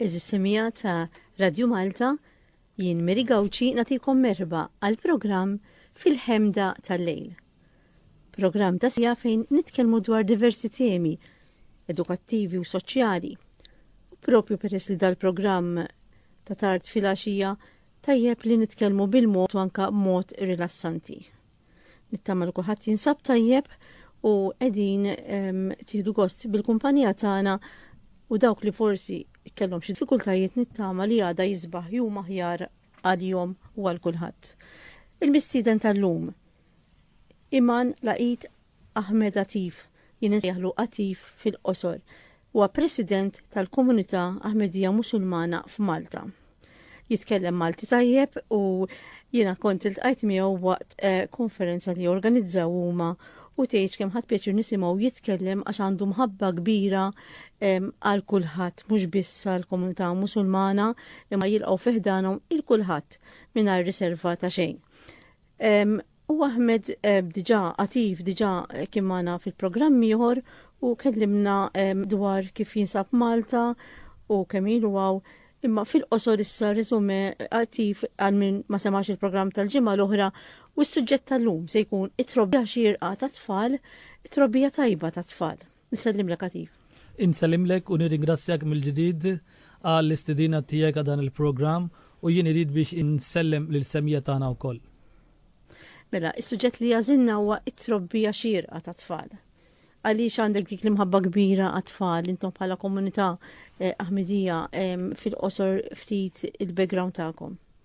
Eżissimija ta' Radio Malta, jien Meri Gawċi natikom merba għal programm fil-ħemda tal-lejl. Programm ta' sija fejn nitkellmu dwar diversi temi edukattivi u soċjali. U propju peress li dal-programm ta' tard fil-għaxija tajjeb li nitkellmu bil-mod u anka mod rilassanti. Nittama li kulħadd jinsab tajjeb u qegħdin ehm, tieħdu gost bil-kumpanija tagħna u dawk li forsi kellhom xi diffikultajiet nittama li għada jisbaħ jum aħjar għal-jom u għal kulħadd. Il-mistieden tal-lum Iman Laqit Ahmed Atif, jien insejjaħlu Atif fil-qosor, huwa President tal-Komunità Ahmedija Musulmana f'Malta. Jitkellem Malti tajjeb u jiena kont iltqajt miegħu waqt konferenza li organizzaw huma u tgħidx kemm ħadt pjaċir nisimgħu jitkellem għax għandu mħabba kbira għal kulħadd mhux biss għall-Komunità Musulmana imma jilqgħu fi ħdanhom il-kulħadd mingħajr riserva ta' xejn. U Ahmed eh, diġa, Atif diġa eh, kien magħna fil-programm ieħor u kellimna dwar kif jinsab Malta u kemm ilu għaw. Imma fil-qosor issa rizume attiv għal min ma semax il-programm tal-ġimgħa l-oħra u s-suġġett tal-lum se jkun it-trobbija xirqa tat-tfal, it-trobbija tajba tat-tfal. Nsellimlek Atif. Insellimlek u nirringrazzjak mill-ġdid għall-istedina tiegħek għal dan il-programm u jien irid biex insellem lill-semija tagħna wkoll. Mela, is-suġġett li għażilna huwa t-trobbija xierqa tat-tfal. Għaliex għandek dik l-imħabba kbira għat-tfal intom bħala komunità eh, Aħmidija em, fil-qosor ftit il-background tagħkom?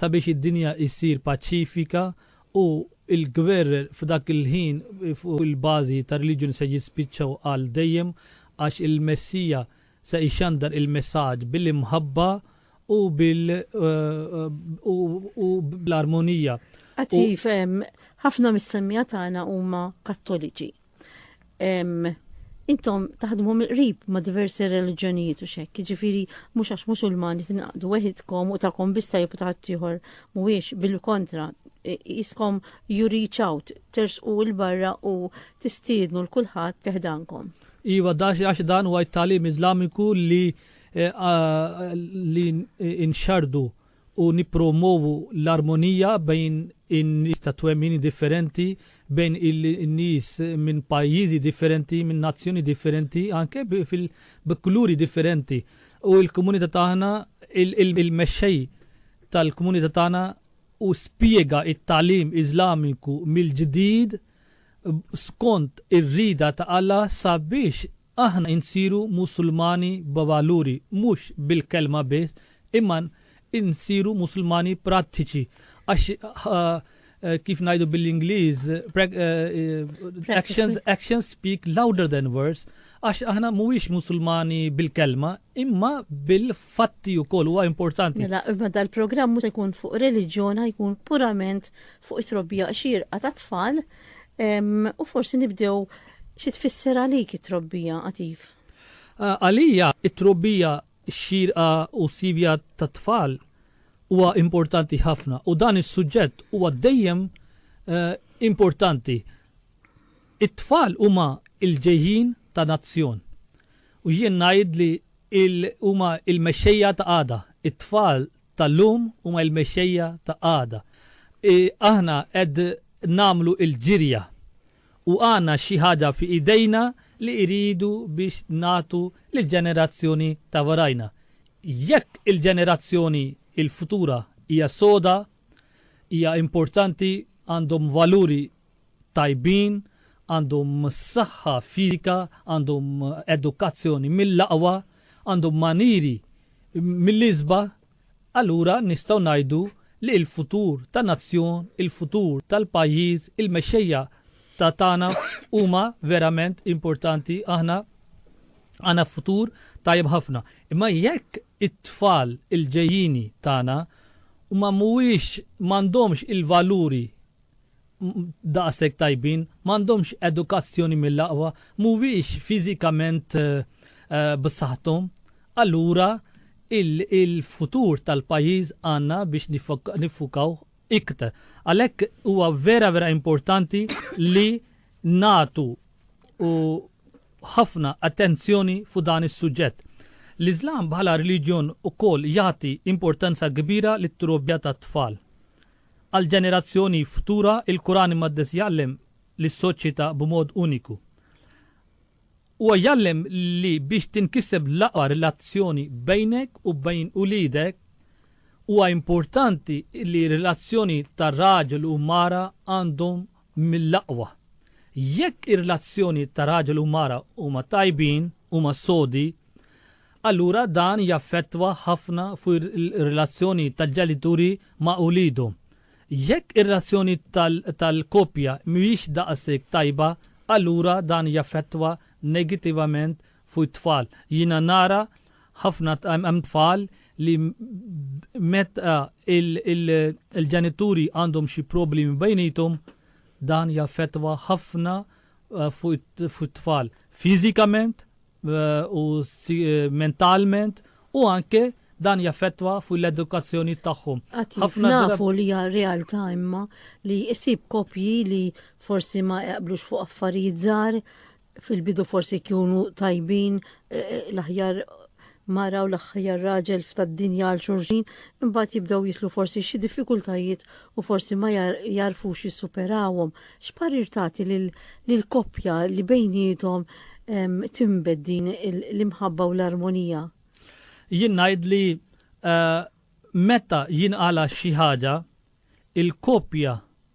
sabiex id-dinja issir paċifika u l-gwerer f'dak il-ħin fuq il-bażi tar-reliġjun se jispiċċaw għal dejjem għax il-Messija se jxandar il-messaġġ bil-imħabba u bil u bl-armonija. Għad tgħid, ħafna mis-semmiegħa tagħna huma Kattoliċi. intom taħdmu mill-qrib ma' diversi reliġjonijiet u xek, ġifiri mhux għax musulmani tinaqdu weħidkom u tagħkom biss tajjeb u taħt ieħor mhuwiex bil-kontra jiskom you reach out, tersqu l-barra u tistiednu l-kulħadd teħdankom. Iva, dax għax dan huwa t-talim Iżlamiku li eh, li inxardu u nippromwovu l-armonija bejn in-nies ta' twemmini differenti, bejn in-nies minn pajjiżi differenti, minn nazzjoni differenti, anke bi kuluri differenti. U l-komunità tagħna, il-mexxej tal-komunità tagħna hu spjega t-tagħlim Iżlamiku mill-ġdid skont ir-rieda ta' Alla sabiex Aħna nsiru Musulmani b'valuri, mhux bil-kelma biss, imma nsiru Musulmani prattiċi, għax kif ngħidu bil-Ingliż, actions, actions speak louder than words, għax aħna mhuwiex Musulmani bil-kelma, imma bil-fatti wkoll huwa importanti. Mela, imma dal-programm mhux se jkun fuq reliġjon, jkun purament fuq it-trobbija xierqa tat-tfal, U forsi nibdew xi tfisser għalik it-trobbija qativ? Għalija it-trobbija xierqa u sivja tat-tfal huwa importanti ħafna u dan is-suġġett huwa dejjem eh, importanti. It-tfal huma il-ġejjin ta' nazzjon. U jien ngħid li huma il-mexxejja ta' għada, it-tfal tal-lum huma l-mexxejja ta' għada. Aħna qed nagħmlu l-ġirja u għandna xi ħaġa fi idejna li rridu biex nagħtu lill-ġenerazzjoni ta' warajna. Jekk il-ġenerazzjoni l-futura hija soda, hija importanti, għandhom valuri tajbin, għandhom saħħa fiżika, għandhom edukazzjoni mill-aqwa, għandhom maniri mill-isba', allura nistgħu ngħidu li l-futur ta' nazzjon, il-futur tal-pajjiż, il-mexxejja ta' tagħna huma verament importanti aħna għandna futur tajjeb ħafna. Imma jekk it-tfal il-ġejjini tagħna huma mhuwiex m'għandhomx il-valuri daqshekk tajbin, m'għandhomx edukazzjoni mill-aqwa, mhuwiex fiżikament b'saħħthom, allura il-futur tal-pajjiż għandna biex niffukaw iktar. Għalhekk huwa vera vera importanti li nagħtu u ħafna attenzjoni fuq dan is-suġġett. L-Iżlam bħala reliġjon ukoll jagħti importanza kbira lit-trobbja tat-tfal. Għall-ġenerazzjoni futura, il-Kuran Imqaddes jgħallem lis-soċjetà b'mod uniku. Huwa jgħallem li biex tinkiseb l-aqwa relazzjoni bejnek u bejn uliedek, huwa importanti li r-relazzjoni ta' raġel u mara għandhom mill-aqwa. Jekk ir-relazzjonijiet ta' raġel u mara huma tajbin, huma sodi, allura dan jaffettwa ħafna fuq ir-relazzjoni tal-ġenituri ma' uliedhom. Jekk ir-relazzjoni tal-koppja mhijiex daqshekk tajba, allura dan jaffettwa negittivament fuq it-tfal. Jiena nara ħafna hemm tfal li meta il-ġenituri għandhom xi problemi bejniethom dan jaffettwa ħafna eh, fuq it-tfal fiżikament eh, u eh, mentalment u anke dan jaffettwa fuq l-edukazzjoni tagħhom. Ħafna nafu li hija realtà imma li jsib kopji li forsi ma jaqblux fuq affarijiet żgħar fil-bidu forsi jkunu tajbin eh, eh, l-aħjar mara u l-aħħar raġel f'tad dinja għal xurxin, imbagħad jibdew jitlu forsi xi diffikultajiet u forsi ma jarfux jissuperawhom. X'parir tagħti lil koppja li bejnietom timbed din l-imħabba u l-armonija? Jien ngħid li eh, meta jinqala xi ħaġa, il-koppja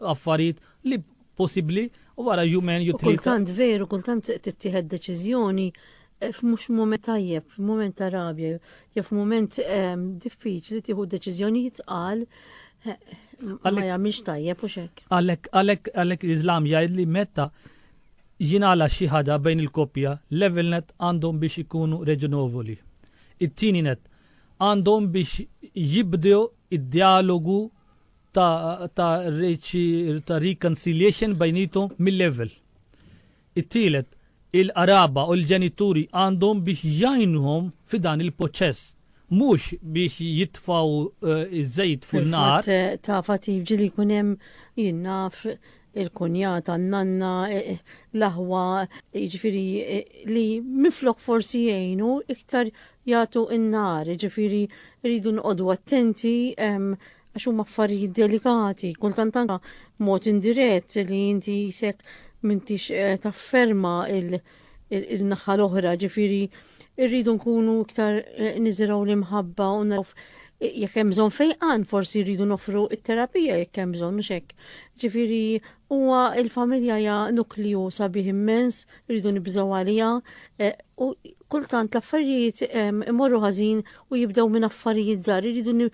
affarijiet li possibbli u wara jumejn jew tlieta. Kultant veru, kultant tittieħed deċiżjoni eh, f'mhux mument tajjeb, f'mument ta' rabja, jew f'mument ehm, diffiċli tieħu deċiżjonijiet qal eh, ma jagħmilx tajjeb u xek. Għalhekk għalhekk għalhekk l-Iżlam jgħid li meta jingħala xi ħada bejn il-koppja, level net għandhom biex ikunu reġinovoli. It-tieni net għandhom biex jibdew id-dialogu ta' ta' ta' reconciliation bejnietu mil-level. It-tielet, il-qraba u l-ġenituri għandhom biex jgħinuhom fi dan il-poċess, mhux biex jitfgħu ż-żejt fuq in-nar. Fil-fatt ta' fatt jiġri li jkun hemm jien naf il-kunjata, n-nanna, l-aħwa, jiġifieri li minflok forsi jgħinu iktar jagħtu n-nar, jiġifieri rridu noqogħdu attenti għax huma affarijiet delikati, kultant anka mod indirett li inti jisek mintix eh, tafferma il-naħħa l-oħra, ġifiri irridu nkunu iktar eh, niziraw l-imħabba u naraw eh, jekk hemm bżonn fejqan forsi rridu nofru it-terapija jekk hemm bżonn u xek. Ġifieri huwa il-familja hija nukliju sabiħ immens, rridu nibżgħu għaliha u kultant l-affarijiet imorru ħażin u jibdew minn affarijiet żgħar, irridu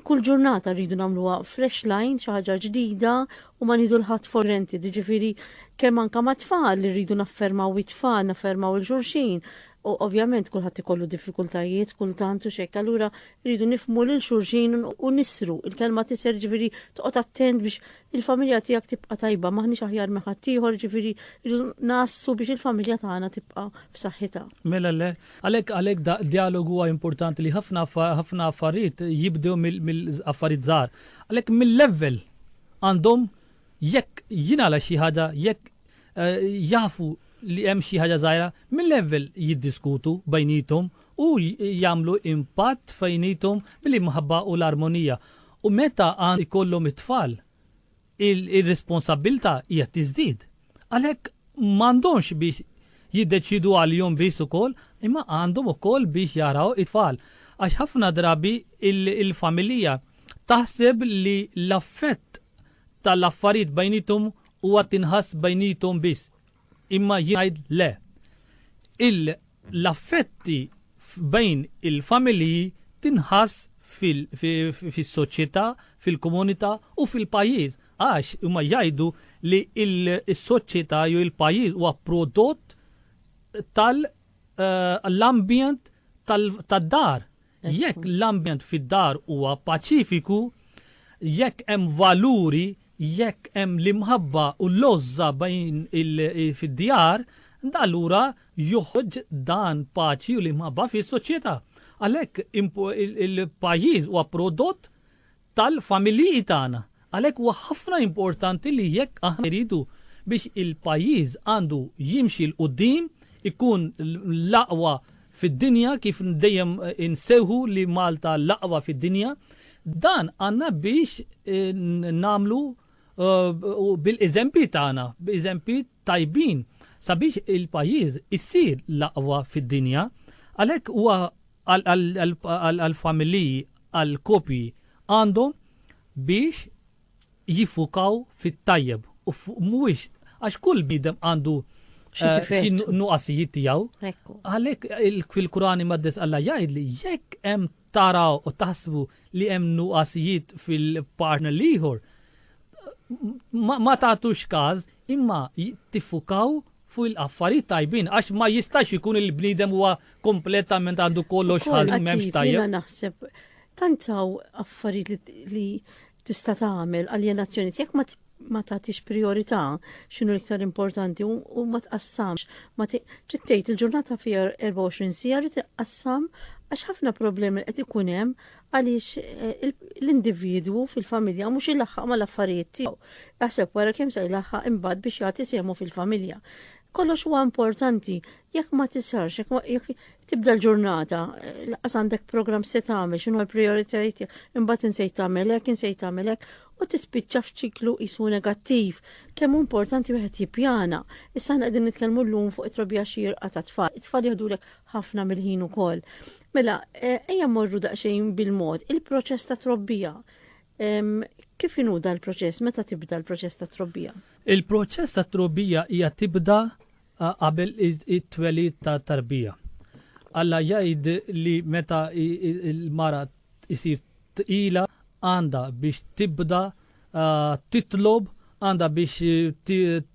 kull ġurnata rridu nagħmluha fresh line, xi ħaġa ġdida u ma nieħdu l-ħadd for granted, jiġifieri kemm anke mat-tfal li rridu naffermaw it-tfal, naffermaw il xulxin, u ovvjament kulħadd ikollu diffikultajiet kultant u x'hekk, allura rridu nifhmu lil xulxin u nissru, il-kelma tisser jiġifieri toqgħod attent biex Il-familja tiegħek tibqa' tajba, m'aħniex aħjar minn ħaddieħor, jiġifieri rridu ngħassu biex il-familja tagħna tibqa' f'saħħitha. Mela le. Għalhekk għalhekk d-djalogu huwa importanti li ħafna ħafna affarijiet jibdew mill-affarijiet żgħar. Għalhekk mill-level għandhom jekk jingħala xi ħaġa, jekk eh, jafu li hemm xi ħaġa żgħira, mill-level jiddiskutu bejnietom u jagħmlu impatt fejnietom billi mħabba u l-armonija. U meta għan ikollhom it-tfal, ir-responsabbiltà hija tiżdied. Għalhekk m'għandhomx biex jiddeċiedu għalihom biss ukoll, imma għandhom ukoll biex jaraw it-tfal. Għax ħafna drabi l-familija taħseb li l-affett tal-affarijiet bejniethom huwa tinħass bejniethom biss. Imma jien ngħid le. L-affetti bejn il-familji tinħass fis-soċjetà, fil-komunità u fil-pajjiż għax huma jgħidu li s-soċjetà jew il-pajjiż huwa prodott tal-ambjent tad-dar. jekk l-ambjent fid-dar huwa paċifiku, jekk hemm valuri, jekk hemm l-imħabba u l-għożża bejn fid-djar, allura joħroġ dan paċi u l-imħabba fis-soċjetà. Għalhekk il-pajjiż huwa prodott tal-familjii tagħna. Għalhekk huwa ħafna importanti li jekk aħna irridu biex il-pajjiż għandu jimxi 'l quddiem, ikun l-aqwa fid-dinja kif dejjem insejħu li Malta l-aqwa fid-dinja, dan għandna biex nagħmlu bil-eżempji tagħna, b'eżempji tajbin sabiex il-pajjiż isir l-aqwa fid-dinja. Għalhekk huwa għall-familji, għall-koppji, għandhom biex jiffukaw fit-tajjeb u mhuwiex għax kull bidem għandu xi nuqqasijiet tiegħu. Għalhekk fil-Kurani Maddes Alla jgħid li jekk hemm taraw u taħsbu li hemm nuqqasijiet fil-partner liħor, ma tagħtux każ imma tiffukaw fuq il-affarijiet tajbin għax ma jistax ikun li l-bniedem huwa kompletament għandu kollox ħażin m'hemmx tajjeb. Jiena naħseb tant hawn affarijiet li tista' tagħmel aljenazzjoni jekk ma ma tagħtix priorità x'inhu l-iktar importanti u ma tqassamx. Ma trid tgħid il-ġurnata fiha 24 sija li tqassam għax ħafna problemi qed ikun hemm Għaliex l-individwu fil-familja mhux ilaħħaq mal-affarijiet tiegħu. Aħseb wara kemm se jlaħħaq imbagħad biex jagħti sehmu fil-familja. Kollox huwa importanti, jekk ma tisarx, jekk tibda l-ġurnata, laqas għandek programm se tagħmel, x'inhu l-prijoritajiet tiegħek, imbagħad insejt tagħmel hekk, insejt tagħmel hekk, u tispiċċa f'ċiklu qisu negattiv. Kemm importanti wieħed jippjana. Issa qegħdin nitkellmu llum fuq it-trobija xierqa tat-tfal. It-tfal jieħdulek ħafna mill-ħin ukoll. Mela, eh, ejja mmorru daqsxejn bil-mod, il-proċess ta' trobbija. Kif inhu dal-proċess? Meta tibda l-proċess ta' trobbija? Il-proċess ta' trobbija hija tibda qabel it-twelid ta' tarbija. Alla jgħid li meta il-mara isir tqila għandha biex tibda titlob għandha biex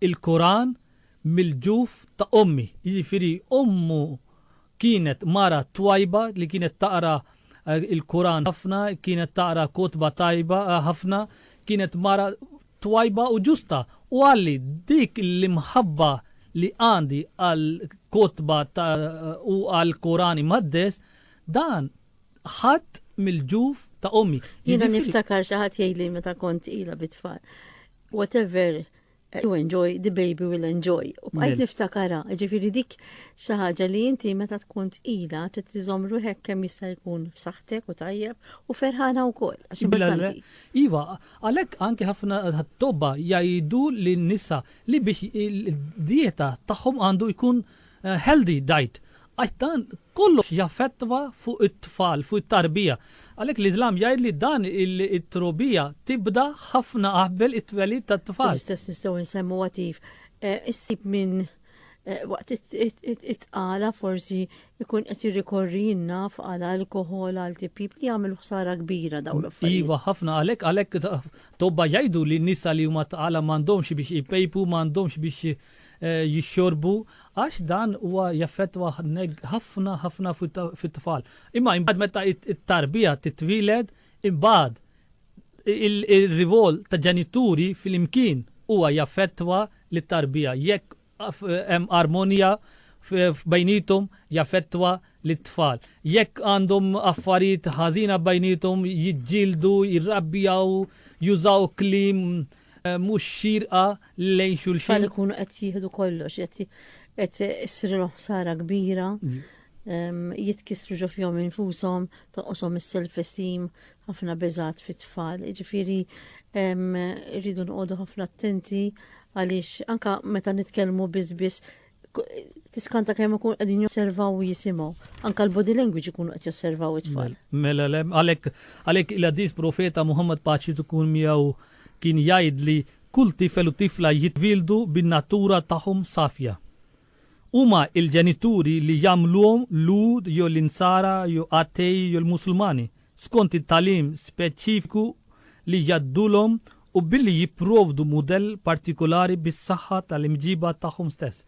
il-Quran mill-ġuf ta' ommi, jiġifieri ommu kienet mara twajba li kienet taqra il-Quran ħafna, kienet taqra kotba tajba ħafna, kienet mara twajba u ġusta u qalli dik l-imħabba li għandi għall-kotba u għall-Quran Imqaddes dan ħadt mill-ġuf ta' ommi. Jiena niftakar xi ħadd jgħidli meta kont ilha bit-tfal, whatever You enjoy, the baby will enjoy. U bqajt niftakara, ġifiri dik xi ħaġa li inti meta tkun tqila trid tiżomm ruħek kemm jista' jkun f'saħħtek u tajjeb u ferħana wkoll għax importanti. Iva, għalhekk anke ħafna tobba jgħidu li nisa li biex dieta tagħhom għandu jkun Healthy Diet, għax dan kollox jaffettwa fuq it-tfal, fuq it-tarbija. Għalhekk l-Iżlam jgħid li dan it-trbija tibda ħafna qabel it-twelid tat-tfal. L-istess nistgħu nsemmu għatif. Issib min waqt it-tqala forsi jkun qed jirrikorri jinnaf għal alkohol għal tipjib li jagħmel ħsara kbira dawn l-affarijiet. Iva ħafna għalhekk għalhekk tobba jgħidu li nisa li huma tqala m'għandhomx biex jpejpu, m'għandhomx biex jixxorbu għax dan huwa jaffettwa ħafna ħafna fit-tfal. Imma imbagħad meta t-tarbija titwieled, imbagħad ir-rivol ta' ġenituri flimkien huwa jaffettwa lit-tarbija. Jekk hemm armonija bejniethom jaffettwa lit-tfal. Jekk għandhom affarijiet ħażina bejniethom jiġġieldu, jirrabbjaw, jużaw kliem mhux xierqa lejn xulxin. It-tfal ikunu qed jieħdu kollox, qed issirilhom ħsara kbira, jitkissru ġo fihom infushom, toqoshom is-self esteem, ħafna beżat fit-tfal. Jiġifieri rridu noqogħdu ħafna attenti għaliex anka meta nitkellmu biss biss tiskanta kemm ikun qegħdin josservaw u jisimgħu. Anka l-body language ikunu qed josservaw it-tfal. Mela, mela għalhekk għalhekk il-għaddis profeta Muhammad paċi tkun miegħu kien jgħid li kull tifel u tifla jitwildu bin-natura tagħhom safja. Huma il-ġenituri li jagħmluhom lud jew l-insara jew attej jew l-musulmani. skont it-tagħlim speċifiku li jgħaddulhom u billi jipprovdu mudell partikulari bis-saħħa tal-imġiba tagħhom stess.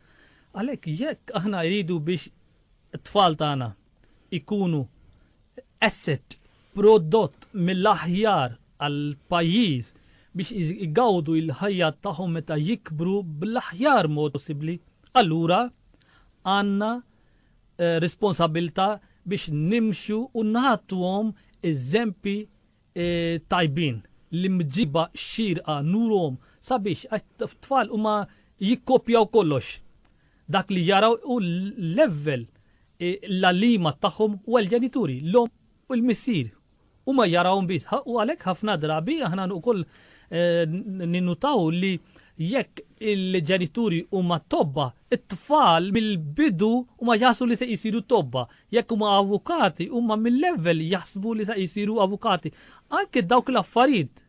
Għalhekk jekk aħna jridu biex it-tfal tagħna ikunu asset prodott mill-aħjar għal pajjiż biex igawdu il-ħajja tagħhom meta jikbru bl-aħjar mod possibbli, allura għandna responsabbiltà biex nimxu u nagħtuhom eżempji tajbin, l-imġiba xierqa nuruhom sabiex għax tfal huma jikkopjaw kollox. Dak li jaraw hu l-level l-għalliema tagħhom u għall-ġenituri, l-omm u l-missier Huma jarawhom biss ħa u għalhekk ħafna drabi aħna wkoll ninnutaw li jekk il-ġenituri huma tobba, it-tfal mill-bidu huma jaħsbu li se jsiru tobba. Jekk huma avukati, huma mill-ewwel jaħsbu li se jsiru avukati. Anke dawk l-affarijiet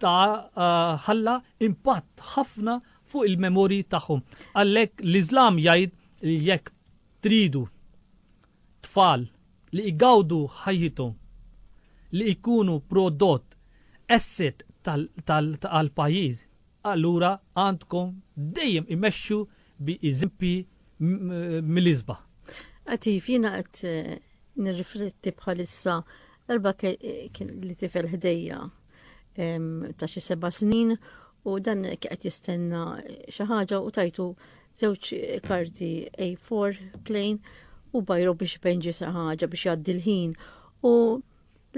ta' ħalla impatt ħafna fuq il-memorji tagħhom. Għalhekk l-Iżlam jgħid li jekk tridu tfal li jgawdu ħajjithom li jkunu prodott asset tal-pajjiż, allura għandkom dejjem imexxu bi eżempji mill-isbaħ. Għatif, jiena qed nirrifletti bħalissa Darba kien li tifel ħdejja ta' xi seba' snin u dan qed jistenna xi ħaġa u tajtu żewġ karti A4 plain u bajru biex penġi xi ħaġa biex jgħaddi l-ħin u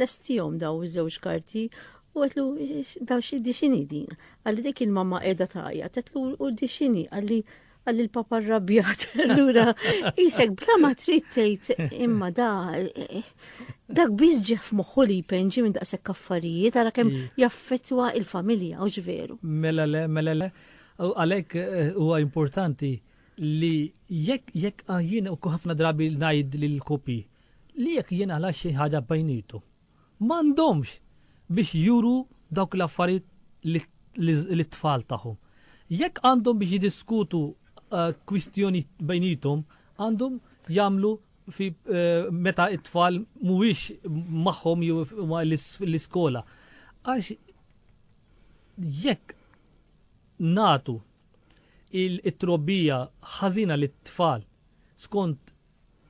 lestihom daw iż-żewġ karti u għetlu daw xi dixini din. Għalli dik il-mamma qiegħda tajja, tetlu u dixini għalli għal il-papa rrabjat, l-ura, jisek bla ma trid tgħid imma da dak biss ġef moħħu li jpenġi minn daqshekk affarijiet għara kemm mm. jaffettwa il-familja u ġveru. Mela le, mela le, għalhekk eh, huwa importanti li jekk jekk ah, jien u ħafna drabi ngħid lil kopi li jekk jien għala xi ħaġa bajnitu. M'għandhomx biex juru dawk l-affarijiet lit-tfal tagħhom. Jekk għandhom biex jiddiskutu kwistjonijiet bejniethom, għandhom jagħmlu fi meta t-tfal mhuwiex magħhom jew huma l-iskola. Għax jekk nagħtu it-trobbija ħażina lit-tfal skont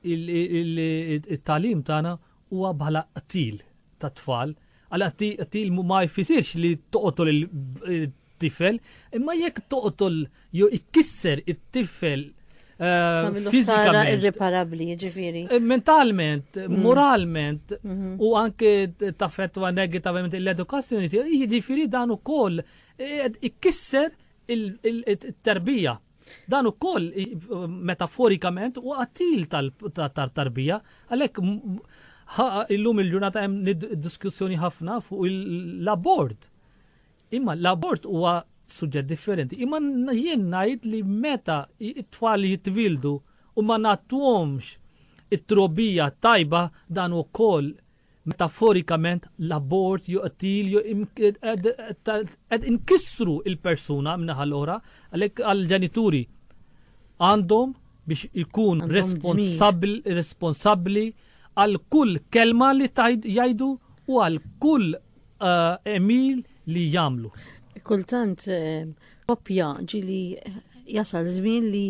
it-talim tagħna huwa bħala qtil tat-tfal. Għala qtil ma jfisirx li toqtol il-tifel, imma jekk toqtol jew ikkisser it-tifel eh, fiżikament irreparabbli, ġifieri. Eh, mentalment, mm. moralment mhm. u anke taffettwa negativament l-edukazzjoni, jiġifieri dan ukoll eh, ikkisser il-terbija Dan ukoll metaforikament u qattil tal-tarbija, għalhekk illum il-ġurnata hemm diskussjoni ħafna fuq l-abort. Imma l-abort huwa suġġett differenti. Imma jien ngħid li meta it-tfal jitwildu u ma nagħtuhomx it-trobija tajba dan ukoll Metaforikament, l-abort jew qtil jew qed inkissru l-persuna min-naħa l-oħra, għalhekk għall-ġenituri għandhom biex ikun responsabbli għal kull kelma li jgħidu u għal kull għemil li jagħmlu. Kultant koppja ġili jasal żmien li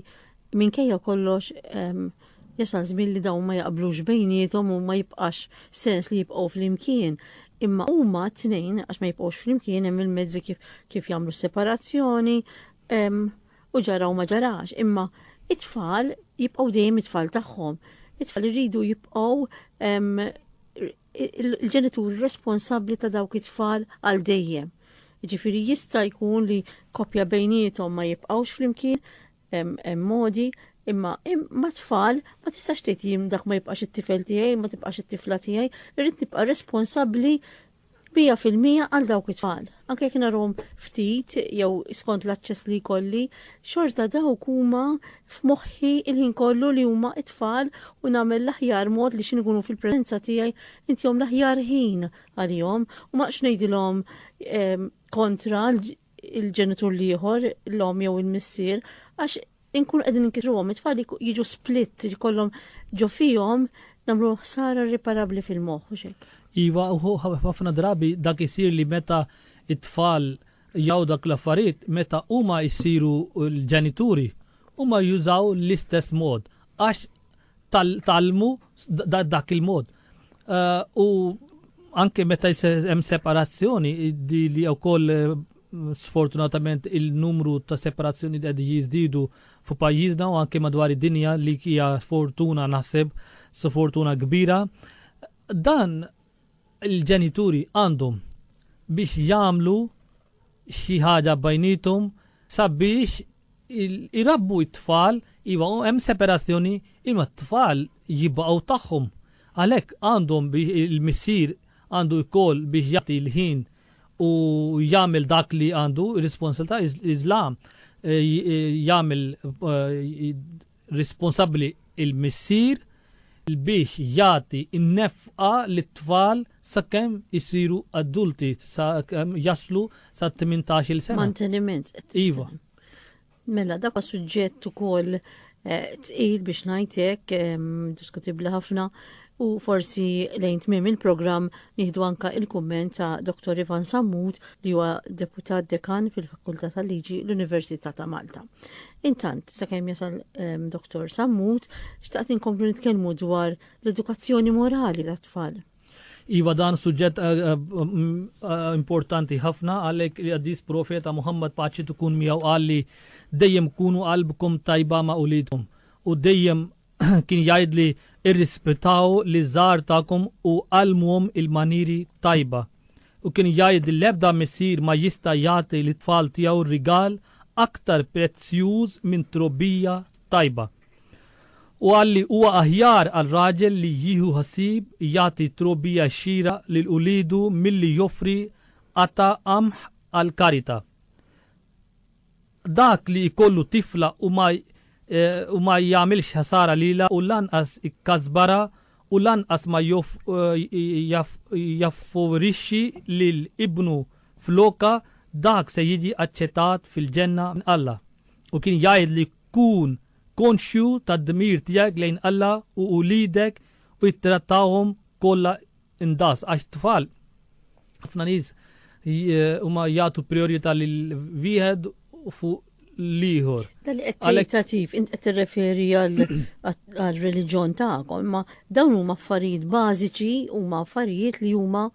Minkejja kollox, jasal żmien li dawn ma jaqblux bejniethom u ma jibqax sens li jibqgħu flimkien. Imma huma t-tnejn għax ma jibqgħux flimkien hemm il-mezzi kif kif jagħmlu separazzjoni u ġara u ma ġarax. Imma it-tfal jibqgħu dejjem it-tfal tagħhom. It-tfal iridu jibqgħu il-ġenituri responsabbli ta' dawk it-tfal għal dejjem. Ġifiri jista' jkun li koppja bejnietom ma jibqgħux flimkien, hemm modi, imma mat-tfal ma tistax tgħid jien dak ma jibqax it-tifel tiegħi, ma tibqax it-tifla tiegħi, irrid nibqa' responsabbli bija fil-mija għal dawk it-tfal. Anke jekk narhom ftit jew skont l-aċċess li jkolli, xorta dawk huma f'moħħi il-ħin kollu li huma t-tfal u nagħmel l-aħjar mod li x'in ikunu fil-preżenza tiegħi intihom l-aħjar ħin għalihom u ma ngħidilhom ehm, kontra il-ġenitur l-ieħor, l-om jew il-missier, għax inkun qegħdin inkitruhom it-tfal jiġu split jkollhom ġo fihom nagħmlu ħsara riparabbli fil-moħħ u xek. Iva, u ħafna drabi dak isir li meta it-tfal jaw dak l-affarijiet, meta huma jsiru l-ġenituri, huma jużaw l-istess mod għax tal-talmu dak il-mod. Eh, u anke meta hemm separazzjoni di li wkoll eh, sfortunatament il-numru ta' separazzjoni qed jiżdiedu fu pajjiżna u anke madwar id-dinja li hija fortuna naħseb fortuna kbira. Dan il-ġenituri għandhom biex jagħmlu xi ħaġa bejniethom sabiex irabbu t-tfal, iva hemm separazzjoni imma t-tfal jibqgħu tagħhom. Għalhekk għandhom biex il-missier għandu wkoll biex jagħti l-ħin u jagħmel dak li għandu, ir-responsabilità iżla jagħmel responsabbli l-missier biex jagħti n-nefqa lit-tfal sakemm isiru adulti, sakemm jaslu sa tmintax-il sena. Manteniment qed titkellem. Iva. Mela dak suġġett ukoll eh, tqil biex ngħid hekk ehm, diskutibbli ħafna u forsi lejn tmiem il-programm nieħdu anka il-kumment ta' Dr. Ivan Sammut li huwa deputat dekan fil-Fakultà tal-Liġi l-Università ta' Malta. Intant, sakemm jasal ehm, Dr. Sammut, xtaqt inkomplu nitkellmu dwar l-edukazzjoni morali tat-tfal. Iva dan suġġett eh, eh, mm, eh, importanti ħafna għalhekk li għaddis profeta Muhammad paċi tkun miegħu qalli dejjem kunu qalbkom tajba ma' ulitom u dejjem kien jgħidli irrispetaw li żgħar tagħkom u għallmuhom il-manieri tajba. U kien jgħid li l-ebda missier ma jista' jagħti lit-tfal tiegħu rigal aktar prezzjuż minn trobbija tajba. U qal li huwa aħjar għal raġel li jieħu ħsieb jagħti trobbija xieraq lil uliedu milli joffri qata' qamħ għall-karita. Dak li jkollu tifla u ma u ma jagħmilx ħsara lilha u lanqas ikkasbarha u lanqas ma joff jaff jaffavorixxi lil ibnu flokha, dak se jiġi aċċettat fil-Ġenna minn Alla. U kien jgħidli, Kun konxju tad-dmir tiegħek lejn Alla u uliedek u ttrattahom kollha Inqas għax it-tfal ħafna nies huma jagħtu priorità lil wieħed fuq l-ieħor. Dan qed tentativ, int qed tirreferi għall-reliġjon tagħkom, ma dawn huma affarijiet bażiċi, huma affarijiet li huma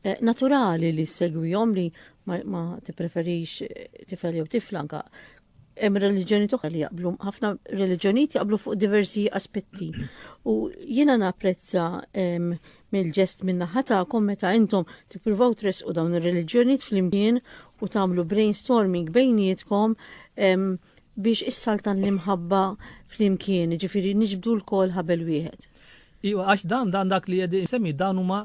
eh, naturali li segwihom li ma tippreferix eh, tifel jew tiflanka Hemm reliġjonijiet oħra li jaqblu, ħafna reliġjonijiet jaqblu fuq diversi aspetti. U jiena napprezza ehm, mill-ġest minna ħatakom meta intom tippruvaw tresqu dawn ir-reliġjonijiet flimkien u tagħmlu brainstorming bejnietkom ehm, biex issaltan l-imħabba flimkien, ġifiri niġbdu l-kol ħabel wieħed. Iwa, għax dan dan dak li jedi semmi dan huma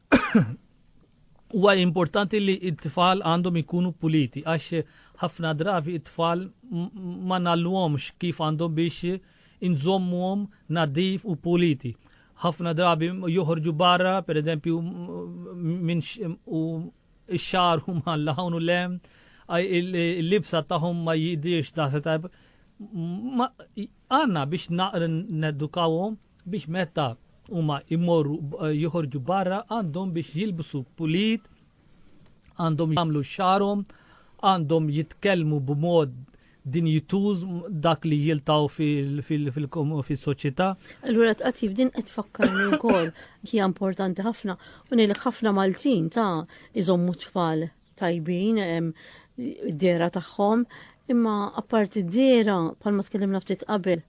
Huwa importanti li t-tfal għandhom ikunu puliti għax ħafna drabi t-tfal ma nallwomx kif għandhom biex inżommuhom nadif u puliti. ħafna drabi joħorġu barra, per eżempju, minn u x-xar u ma l-ħawn u lem, il-libsa taħum ma jidirx da' setab. Għanna biex naqrin nedukawhom biex meta huma jmorru joħorġu barra għandhom biex jilbsu pulit, għandhom jagħmlu xarhom, għandhom jitkellmu b'mod dinjituż dak li jiltaw fil-soċjetà. Allura tqatt din qed tfakkarni wkoll hija importanti ħafna u ngħidlek ħafna Maltin ta' iżommu tfal tajbin id-dehra tagħhom, imma apparti d-dehra bħalma tkellimna ftit qabel,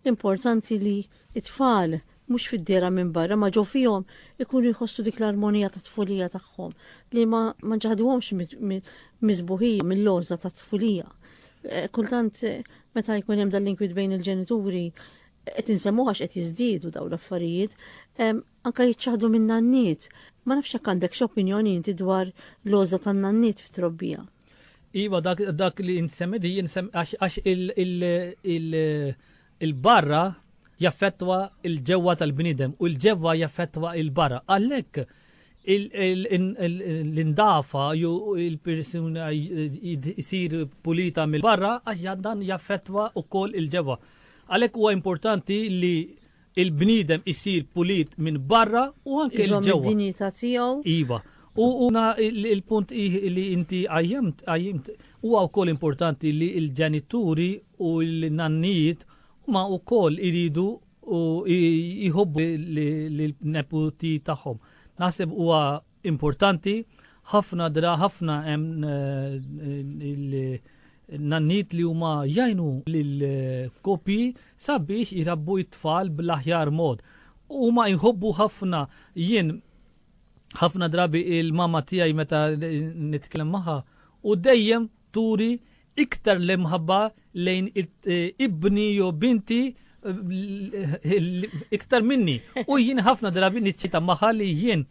importanti li it-tfal mhux fid-dehra minn barra ma ġew fihom ikunu jħossu dik l-armonija ta' tfulija tagħhom li ma ma ġaħduhomx miżbuħija mill-loża ta' tfulija. Eh, kultant eh, meta jkun hemm dan l-inkwit bejn il-ġenituri qed insemmuha qed jiżdiedu dawn l-affarijiet, Anke jiċċaħħdu min-nanniet. Ma nafx jekk għandekx opinjoni inti dwar l-għożża tan-nanniet fit-trobbija. Iva, dak li int semmi di jien għax il-barra jaffettwa il-ġewwa tal-bniedem u l-ġewwa jaffettwa il-barra. Għalhekk l-indafa ju il-persuna jisir pulita mill-barra għax dan jaffettwa wkoll il-ġewwa. Għalhekk huwa importanti li il-bniedem isir pulit minn barra u anke Iżomm l-ġewwa. id-dinjità tiegħu. Iva. U una il- il-punt ih li inti għajjimt, għajjimt, huwa wkoll importanti li l-ġenituri u l-nannijiet huma wkoll iridu u i- jħobbu l-neputi tagħhom. Naħseb huwa importanti, ħafna dra ħafna hemm il-nanniet li huma jgħinu lill-koppji sabiex irabbu it-tfal bl-aħjar mod. Huma jħobbu ħafna jien ħafna drabi il-mama tiegħi meta nitkellem magħha u dejjem turi iktar l-imħabba lejn ibni jew binti iktar minni. U jien ħafna drabi niċċita maħa li jien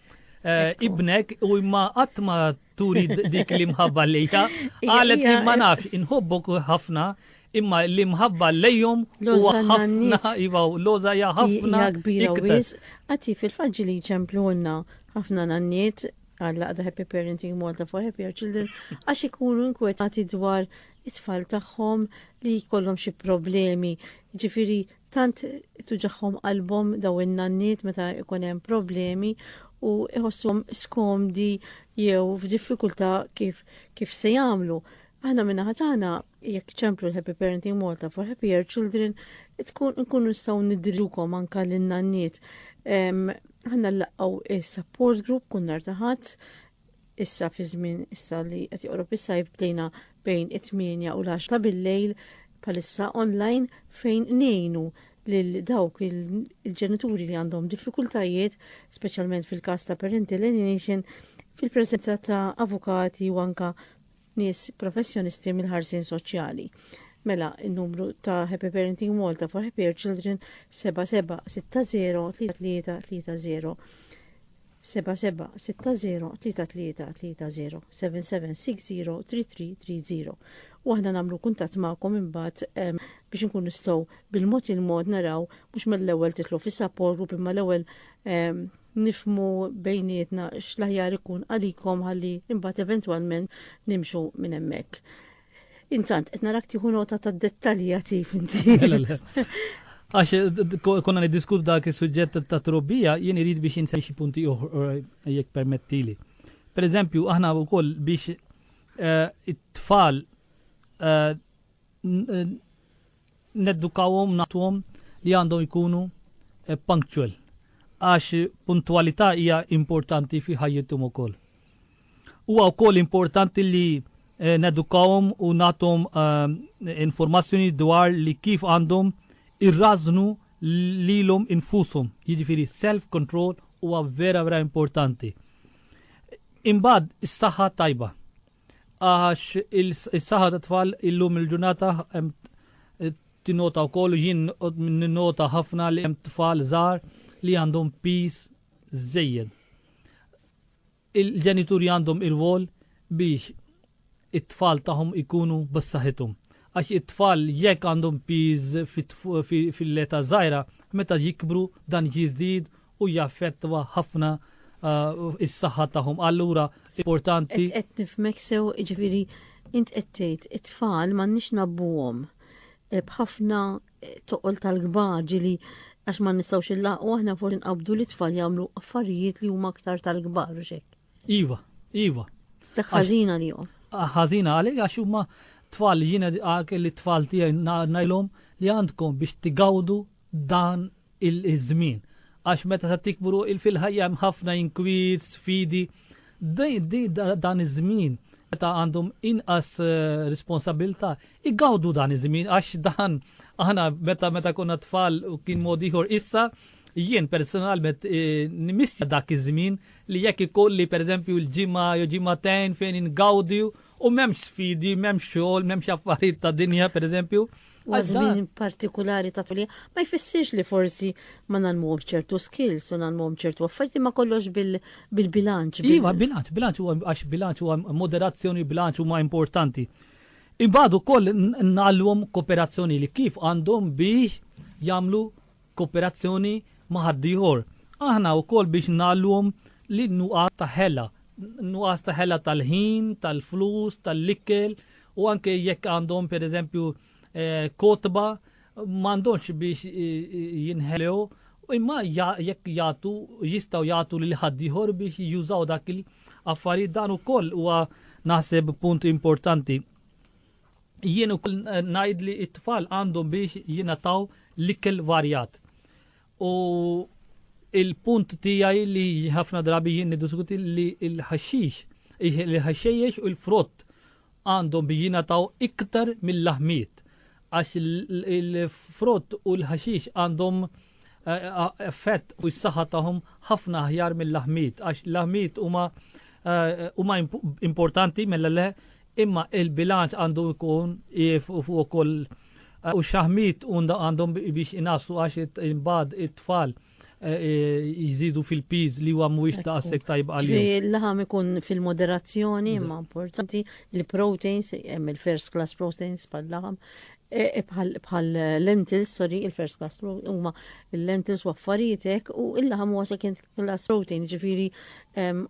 eh, ibnek u imma qatt ma turi dik l-imħabba lejha. Qalet li ma nafx inħobbok ħafna imma l-imħabba lejhom u ħafna iva loza ja ħafna iktar. Għati fil-faġġi li ċemplu għanna ħafna nanniet għall-laqda Happy Parenting Malta for Happier Children għax ikunu inkwetati dwar it-tfal tagħhom li jkollhom xi problemi. Ġifiri, tant tuġaħħom qalbhom daw in-nanniet meta jkun hemm problemi u iħossuhom skomdi jew f'diffikultà kif, kif se jagħmlu. Aħna minna ħatana jekk ċemplu l-Happy Parenting Malta for Happier Children, tkun nkunu nistgħu nidrilukom anka l-nanniet. Ħanna l-laqgħu il-support group kun nar taħat, issa fi żmien issa li qed joqrob is-sajf bdejna bejn it-8 u l-10 ta' bil-lejl palissa online fejn nejnu lil dawk il-ġenituri li għandhom diffikultajiet, speċjalment fil-każ ta' parental alienation, fil-preżenza ta' avukati u anka nies professjonisti mill-ħarsien soċjali. Mela, il-numru ta' Happy Parenting Malta for Happy Children 77603330 77603330 77603330 u aħna nagħmlu kuntatt magħkom imbagħad biex nkun nistgħu bil-mod il-mod naraw mhux mill-ewwel titlu fis-support group imma l-ewwel nifhmu bejnietna x'l-aħjar ikun għalikom ħalli imbagħad eventwalment nimxu minn hemmhekk. Intant, qed narak tieħu nota ta' dettalji għatif inti. Għax eh, konna niddiskutu dak is-suġġett ta' trobbija, jien irid biex jinsemmi xi punti oħra eh, jekk permettili. Per eżempju, aħna wkoll biex eh, it-tfal Neddukawhom nagħtuhom li għandhom ikunu eh, punctual għax puntualità hija importanti fi ħajjithom ukoll. Huwa wkoll importanti li eh, nedukawhom u nagħtuhom eh, informazzjoni dwar li kif għandhom irrażnu lilhom infushom, jiġifieri self control huwa vera vera importanti. Imbagħad is-saħħa tajba. Għax is-saħħa ta' tfal illum il-ġurnata tinota wkoll jien ninnota ħafna li hemm tfal żgħar li għandhom pis żejjed. Il-ġenituri għandhom il-wol biex it-tfal tagħhom ikunu b'saħħithom. Għax it-tfal jekk għandhom piż fil-leta żgħira, meta jikbru dan jiżdied u jaffettwa ħafna is-saħħa tagħhom. Allura importanti. Qed nifmek sew jiġifieri int qed tgħid it-tfal m'għandniex nabbuhom e, b'ħafna e, toqol tal-kbar ġili għax ma nistgħux illaqgħu aħna forsi nqabdu li tfal jagħmlu affarijiet li huma aktar tal-kbar u xejn. Iva, iva. Dak ħażina li jom. Ah, ħażina għalik għax huma tfal jiena għak li tfal tiegħi ngħidlhom li għandkom biex tigawdu dan iż-żmien. Għax meta ta' tikbru fil-ħajja hemm ħafna inkwiet, sfidi, dan iż-żmien meta għandhom inqas eh, responsabilta, igawdu dan iż-żmien għax dan aħna meta meta konna tfal u kien mod ieħor issa jien personalment eh, nimissja dak iż-żmien li jekk ikolli pereżempju l-ġimgħa jew ġimgħatejn fejn ingawdi u m'hemmx sfidi, m'hemmx xogħol, m'hemmx affarijiet ta' dinja pereżempju. Għal żmien partikulari ta' tfulija ma jfissirx li forsi ma nagħmluhom ċertu skills u nagħmluhom ċertu affarijiet ma kollox bil-bilanċ. Iva, bilanċ, bilanċ huwa għax bilanċ huwa moderazzjoni, bilanċ huma importanti. Imbagħad ukoll nagħlluhom kooperazzjoni li kif għandhom biex jagħmlu kooperazzjoni ma' ħaddieħor. Aħna wkoll biex ngħallhom li n-nuqqas ta' ħela, nuqqas ta' ħela tal-ħin, tal-flus, tal-ikel u anke jekk għandhom pereżempju eh, kotba m'għandhomx biex jinħelew imma jekk jagħtu jistgħu jagħtu lil ħaddieħor biex jużaw dak il-affarijiet dan ukoll huwa naħseb punt importanti. Jien ukoll ngħid li t-tfal għandhom biex jingħataw l-ikel varjat. U il-punt tiegħi li ħafna drabi jien niddiskuti li l-ħaxix, il-ħaxxejjex u l-frott għandhom biex jingħataw iktar mill-laħmiet. Għax il-frott u l-ħaxix għandhom eh, effett u s-saħħa tagħhom ħafna aħjar mill-laħmiet għax l-laħmiet huma eh, huma importanti mela le Imma il-bilanċ għandu jkun ief u fuq ukoll u x-xaħmit għandhom biex inassu għax imbagħad it-tfal jżidu fil-piż li huwa mhuwiex daqshekk tajb għalihom. Ġifieri l-laħam ikun fil-moderazzjoni imma importanti il-proteins hemm il-first class proteins bħal-laħam bħal lentils, sorry, il-first class huma il-lentils u affarijietek u il-laħam huwa second L-last protein, ġifiri,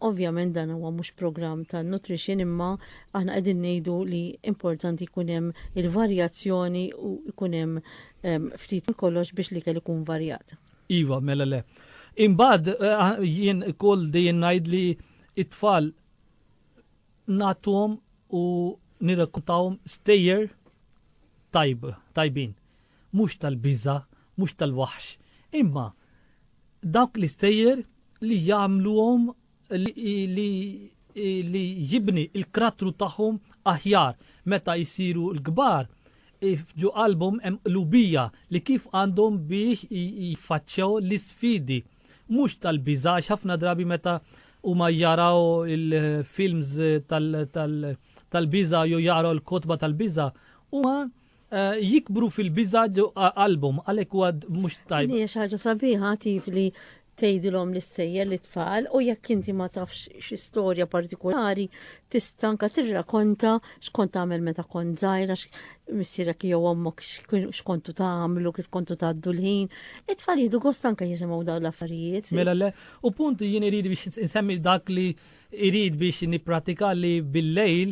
ovvjament dan huwa mhux programm ta' nutrition imma aħna qegħdin ngħidu li importanti jkun hemm il-varjazzjoni u jkun hemm ftit kollox biex li kell ikun varjat. Iva, mela le. Imbagħad eh, jien kull dejjem ngħid li it-tfal nagħtuhom u nirrekrutawhom stejjer tajb, tajbin. mhux tal-biża', mhux tal-waħx, imma dawk l-istejjer li jagħmluhom li jibni l-krattru tagħhom aħjar meta jsiru l-kbar, ġo qalbhom hemm qlubija li kif għandhom biex jiffaċċjaw l-isfidi, mhux tal-biża' għax ħafna drabi meta huma jaraw il-films tal-biża' jew jaqraw il-kotba tal-biża' huma Eh, jikbru fil-biża qalbhom għalhekk huwa mhux tajb. Hija xi ħaġa sabiħa tif li tgħidilhom l-istejjer li tfal u jekk inti ma tafx xi storja partikolari tista' anke tirrakonta x'kont tagħmel meta kont żgħira missierek jew ommok x'kontu tagħmlu kif kontu tgħaddu l-ħin. It-tfal jieħdu gost anke jisimgħu dawn l-affarijiet. Mela le, u punt jien irid biex insemmi dak li irid biex nippratika li bil-lejl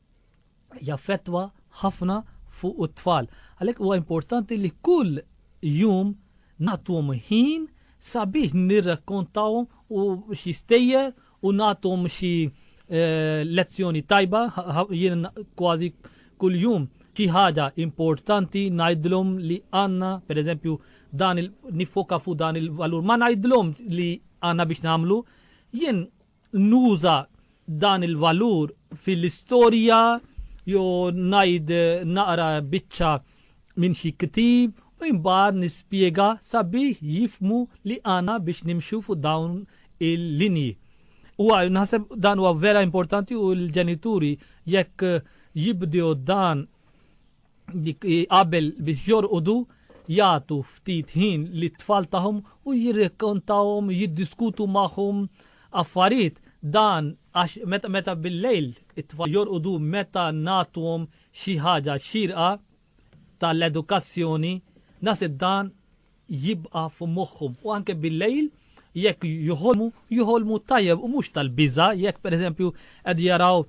jaffettwa ħafna fuq it-tfal. Għalhekk huwa importanti li kull jum nagħtuhom ħin sabiex nirrakkontawhom u xi stejjer u nagħtuhom xi eh, lezzjoni tajba jien kważi kull jum xi ħaġa importanti ngħidlhom li għandna, pereżempju, dan il nifoka fuq dan il-valur, ma ngħidlhom li għandna biex nagħmlu, jien nuża dan il-valur fil-istorja jew ngħid naqra biċċa minn xi ktib u imbagħad nispjega sabiex jifhmu li għandna biex nimxu fuq dawn il-linji. Huwa naħseb dan huwa vera importanti u l-ġenituri jekk jibdew dan qabel biex jorqodu jagħtu ftit ħin li tfal tagħhom u jirrekontawhom, jiddiskutu magħhom affarijiet dan għax meta meta bil-lejl it-tfal jorqodu meta nagħtuhom xi ħaġa xirqa tal-edukazzjoni nasib dan jibqa' f'moħħhom u anke bil-lejl jekk joħolmu, joħolmu tajjeb u mhux tal-biża' jekk pereżempju qed jaraw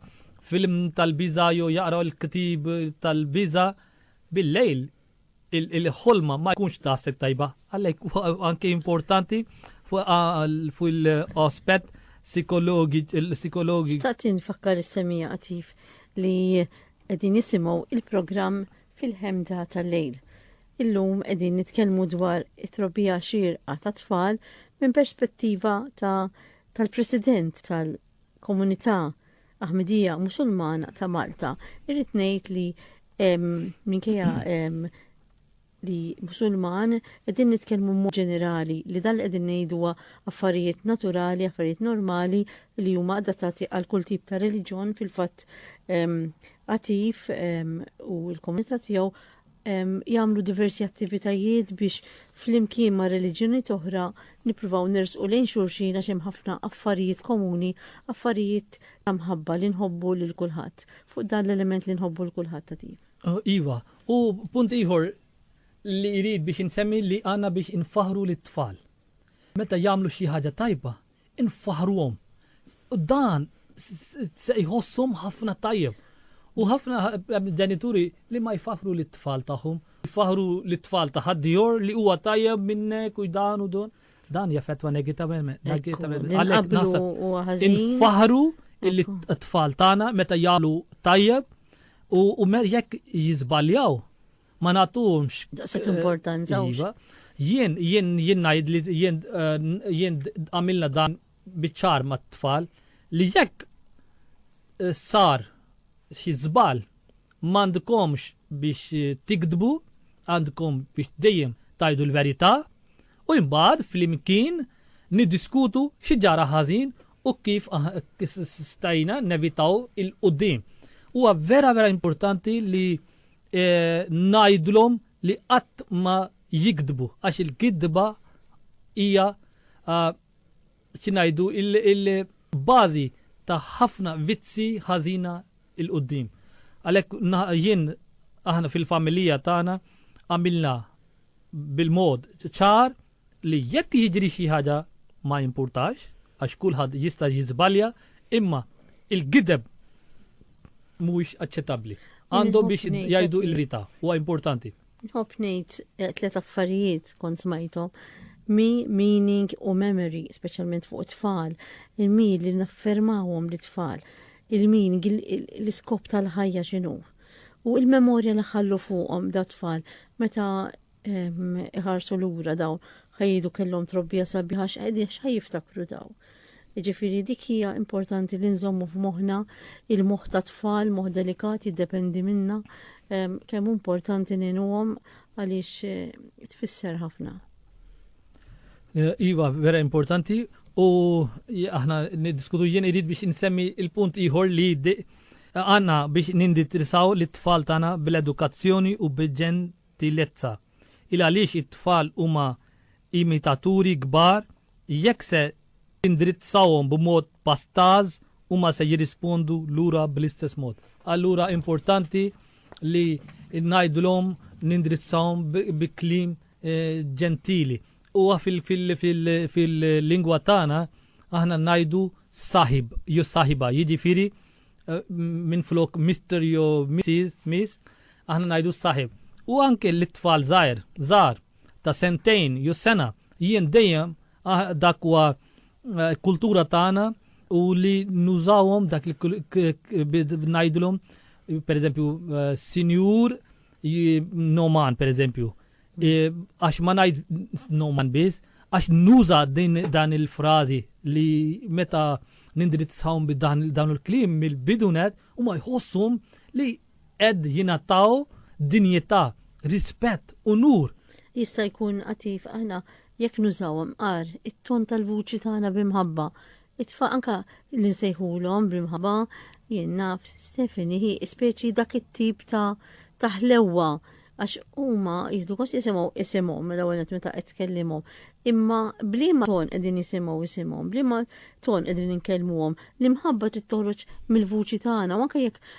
film tal-biża' jew jaqraw il-ktieb tal-biża' bil-lejl il-ħolma ma jkunx daqshekk tajba. Għalhekk anke importanti fil-aspett psikologi. Xtaqt infakkar is-semija qatif li qegħdin nisimgħu il-programm fil-ħemda tal-lejl. Illum qegħdin nitkellmu dwar it-trobbija xierqa ta' tfal minn perspettiva ta' tal-President tal-Komunità Aħmedija Musulmana ta' Malta. Irrid ngħid li minkejja li musulman qegħdin nitkellmu mod ġenerali li dan li qegħdin ngħidu affarijiet naturali, affarijiet normali li huma adattati għal kull tip ta' reliġjon fil-fatt attiv u l-komunità tiegħu jagħmlu diversi attivitajiet biex flimkien ma' reliġjonijiet oħra nippruvaw nersqu lejn xulxin għax hemm ħafna affarijiet komuni, affarijiet ta' mħabba li nħobbu lil kulħadd. Fuq dan l-element li nħobbu lil kulħadd attiv. Iva, u punt ieħor li jrid biex insemmi li għandna biex infaħħru lit-tfal. Meta jagħmlu xi ħaġa tajba, infaħruhom. Dan se jħossom ħafna tajjeb. U ħafna ġenituri li ma jfaħru li tfal tagħhom, jfaħru li tfal ta' ħaddieħor li huwa tajjeb minnek u dan u dan. Dan jaffettwa negativament. Għalhekk naħseb infaħru illi t-tfal tagħna meta jagħmlu tajjeb u jekk jiżbaljaw ma nagħtuhomx daqshekk importanza. Iva, jien jien jien ngħid li jien eh, jien għamilna dan biċ-ċar mat-tfal li jekk eh, sar xi żball m'għandkomx biex eh, tikdbu, għandkom biex dejjem tajdu l-verità u imbagħad flimkien niddiskutu xi ġara ħażin u kif ah, stajna nevitaw il-qudiem. Huwa vera vera importanti li ngħidlhom li qatt ma jigdbu għax il-gidba hija xi ngħidu il-bażi ta' ħafna vizzi ħażina il qudiem Għalhekk jien aħna fil-familija tagħna għamilna bil-mod ċar li jekk jiġri xi ħaġa ma jimpurtax għax kulħadd jista' jiżbalja imma il-gideb mhuwiex aċċettabbli. Għandhom biex jgħidu l-verità, huwa importanti. Nħobb ngħid eh, tliet affarijiet kont smajthom. Mi, meaning u memory, speċjalment fuq it-tfal. Il-mi li naffermawhom li tfal. Il-meaning, l-iskop tal-ħajja x'inhu. U il-memorja li ħallu fuqhom da tfal meta iħarsu lura daw ħajdu kellhom trobbija sabiħa x'qegħdin x'ħaj jiftakru daw. Ġifiri dik hija importanti li nżommu f'moħħna il-moħħ ta' tfal, moħħ delikat jiddependi minna kemm importanti ngħinuhom għaliex eh, tfisser ħafna. Eh, iva, vera importanti u aħna niddiskutu jien irid biex insemmi il-punt ieħor li għanna biex ninditrisaw li t-tfal tagħna bil-edukazzjoni u bil-ġen tillezza. Il għaliex it-tfal huma imitaturi kbar, jekk se tindirizzahom b'mod pastaż huma se jirrispondu lura bl-istess mod. Allura importanti li ngħidulhom nindirizzahom bi kliem ġentili. Huwa fil-lingwa tagħna aħna ngħidu saħib jew saħiba, jiġifieri eh, minn flok Mr. jo Mrs. Miss, aħna najdu s-saħib. U anke l-tfal zaħir, zaħar, ta' sentejn, ju sena, jien dejjem ah, dak wa eh, kultura tagħna u li nużawhom dak li najdlhom per eżempju eh, sinjur noman per eżempju Għax ma ngħid noman biss, għax nuża din dan il-frażi li meta nindirizzawhom bi dan il-klim mill-bidunet u ma jħossum li qed jingħataw dinjità, rispett, unur. Jista' jkun qatif aħna jekk nużawhom qar it-ton tal-vuċi tagħna b'imħabba It-tfal anke li nsejħulhom bl-imħabba, jien naf, Stephanie hi speċi dak it-tip ta' ta' ħlewwa għax huma jieħdu gost jisimgħu isimhom l-ewwel nett meta qed tkellimhom. Imma b'liema ton qegħdin jisimgħu isimhom, b'liema ton qegħdin inkellmuhom, l-imħabba trid toħroġ mill-vuċi tagħna u anke jekk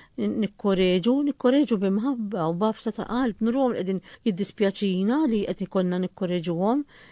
nikkoreġu, nikkoreġu b'imħabba u b'għafsa ta' qalb, nuruhom li qegħdin jiddispjaċina li qed ikollna nikkoreġuhom,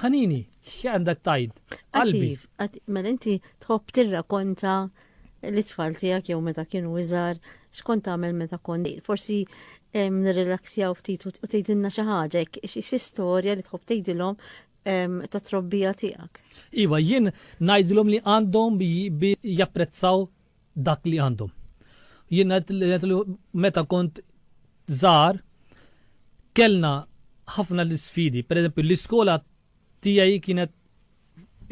Ħanini, x'għandek tajd? Qalbi. Mela inti tħobb tirrakonta l-itfal tiegħek jew meta kienu iżgħar x'kont tagħmel meta kont forsi nirrilaksjaw ftit u tgħidilna xi ħaġa xi istorja li tħobb tgħidilhom ta' trobbija tiegħek. Iva, jien ngħidilhom li għandhom bi japprezzaw dak li għandhom. Jien ngħid li meta kont żgħar kellna ħafna l-isfidi, pereżempju l-iskola tiegħi kienet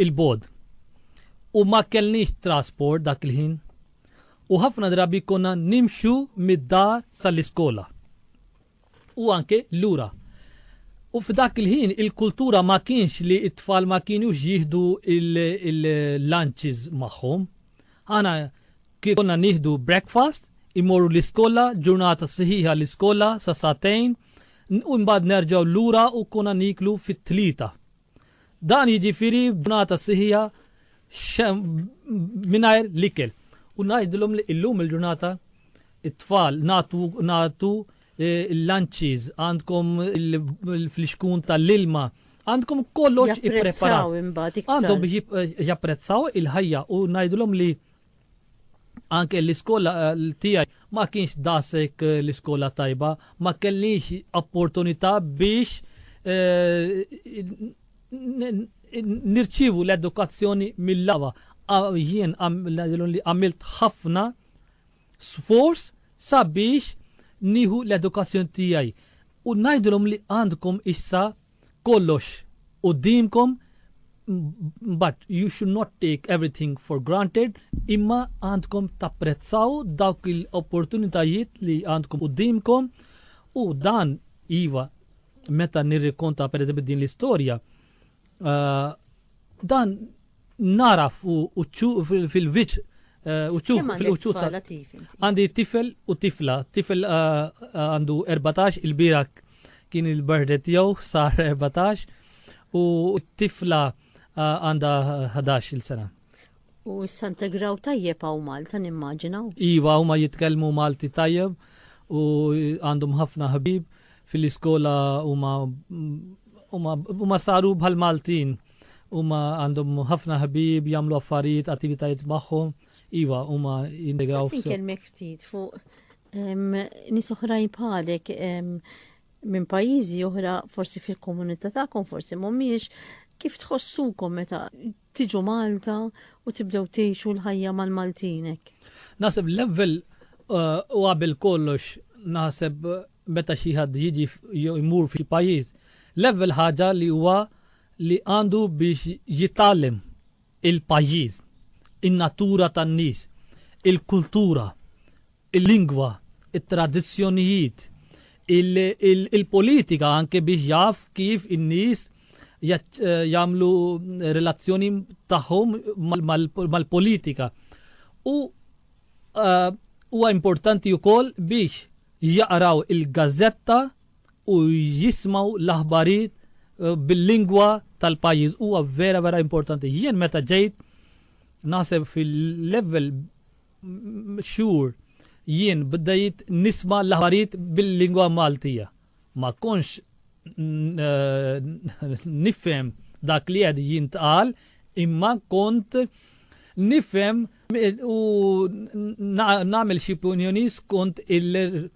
il-bod. U ma kellniex trasport dak il-ħin. U ħafna drabi konna nimxu mid-dar sal-iskola. u anke lura. U f'dak il-ħin il-kultura ma kienx li t-tfal ma kienux jieħdu il-lunches magħhom. Aħna konna nieħdu breakfast, imorru l-iskola, ġurnata siħiħa l-iskola sa satejn, u mbagħad nerġgħu lura u konna niklu fit-tlieta. Dan jiġifieri b'ġurnata siħija mingħajr l-ikel. U ngħidilhom li illum il-ġurnata it-tfal natu natu eh, l-lanċiż, għandkom il-flixkun tal-ilma, għandkom kollox ippreparat. Għandhom biex eh, japprezzaw il-ħajja u ngħidilhom li anke l-iskola eh, tiegħi ma kienx dasek eh, l-iskola tajba, ma kellix opportunità biex eh, nirċivu l-edukazzjoni mill-lawa. Jien għamilt ħafna sforz sabiex nieħu l-edukazzjoni tiegħi. U ngħidilhom li għandkom issa kollox quddiemkom but you should not take everything for granted imma għandkom tapprezzaw dawk il-opportunitajiet li għandkom quddiemkom u dan iva meta nirrikonta pereżempju din l-istorja uh, dan naraf u uċċu fil-viċ uċċu fil-uċċu ta' għandi tifel u tifla. Tifel għandu 14 il-birak kien il-birthday tiegħu sar 14 u tifla għandha 11 il-sena. U s-Santa Graw tajjeb għaw Malta nimmaġina. Iva, huma jitkellmu Malti tajjeb u għandhom ħafna ħabib fil-iskola huma huma saru bħal Maltin. Huma għandhom ħafna ħbieb jagħmlu affarijiet, attivitajiet magħhom. Iva, huma jintegraw. Tista' tikelmek ftit fuq nies oħrajn bħalek minn pajjiżi oħra forsi fil-komunità tagħkom forsi mhumiex kif tħossukom meta tiġu Malta u tibdew tgħixu l-ħajja mal-Maltinek? Naħseb level uh, u għabil kollox naħseb meta xi ħadd jiġi jmur fi pajjiż. Level ħaġa li huwa li għandu biex jitgħallem il-pajjiż, in-natura tan-nies, il-kultura, il-lingwa, it-tradizzjonijiet, il-politika anke biex jaf kif in-nies jagħmlu relazzjoni tagħhom mal-politika. U huwa importanti wkoll biex jaqraw il-gazzetta u jismgħu l-aħbarijiet bil-lingwa tal-pajjiż huwa vera vera importanti. Jien meta ġejt naħseb fil-level xhur jien bdejt nisma l-aħbarijiet bil-lingwa Maltija. Ma konx nifhem dak li qed jintqal imma kont nifhem u nagħmel xi punjoni skont il-reġjun